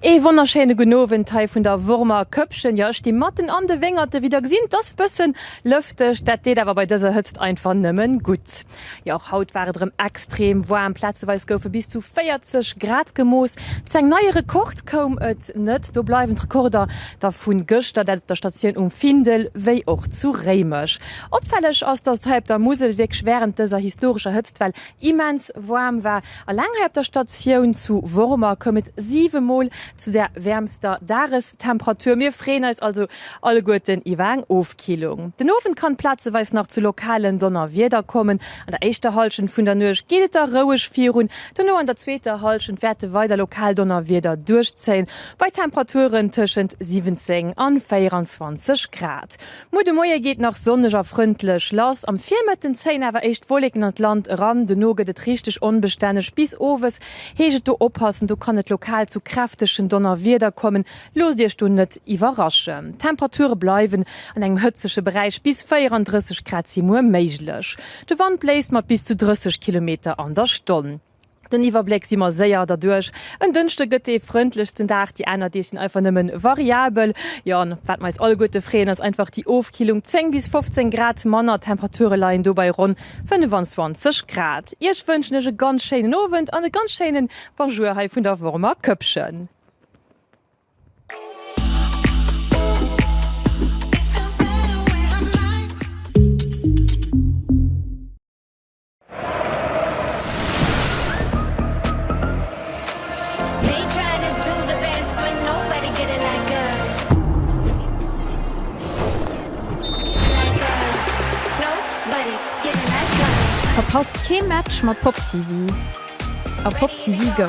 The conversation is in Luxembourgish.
Ee wonnerschéine gudden Owend hei vun der Wormer Köppchen. Jo, ech sti matten an de Wéngerte, wéi der gesitt. Et ass bëssen lëfteg, dat deet awer bei dëser Hëtzt einfach nëmmen gutt. Jo, och haut war et erëm extrem waarm, plazeweis goufe bis zu 40 Grad gemooss. Zu engem neie Rekord koum et net, do bleiwen d'Rekorder da vu gëschter, dat op der Statioun um Findel wéi och zu Réimech. Opfälleg ass, dass et hei op der Musel wierklech wärend dëser historescher Hëtztwell immens waarm war. Alleng hei op der Statioun zu Wormer koum et siwe Mol zu der wäermster Dagestemperatur. Mir freeën eis also alleguerten iwwer eng Ofkillung. Ofkillung. Den Owend kann plazeweis nach zu lokalen Donnerwieder kommen. An der éischter Hallschent vun der Nuecht geet et da roueg virun. Dono an der zweeter Hallschent wäerte weider lokal Donnerwieder duerchzéien, bei Temperaturen tëschent 17 an 24 Grad. Muer de Moie geet nach sonneg a frëndlech lass, am Virmëtten zéien awer éischt Wolleken an d'Land eran. Dono gëtt et richteg onbestänneg bis owes. Heescht et do oppassen, do kann et lokal zu kräftegen Donnerwieder kommen. Loosst Iech do net iwwerraschen, d'Temperature bleiwen an engem hëtzege Beräich, bis 34 Grad si muer méiglech. De Wand bléist mat bis zu 30 Kilometer an der Stonn. Den Iwwerbléck si mer séier derduerch. En Dënschde gëtt dee frëndlechsten Dag, déi aner Deeg sinn einfach nëmme variabel. Jo, an wat mer eis alleguerte freeën, ass einfach déi Ofkillung, 10 bis 15 Grad manner. D'Temperature leien do bei ronn 25 Grad. Iech wënschen ech e ganz schéinen Owend an e ganz schéine Bonjour hei vun der Wormer Këppchen. Verpasst kee Match mat Pop TV a Pop TV Go!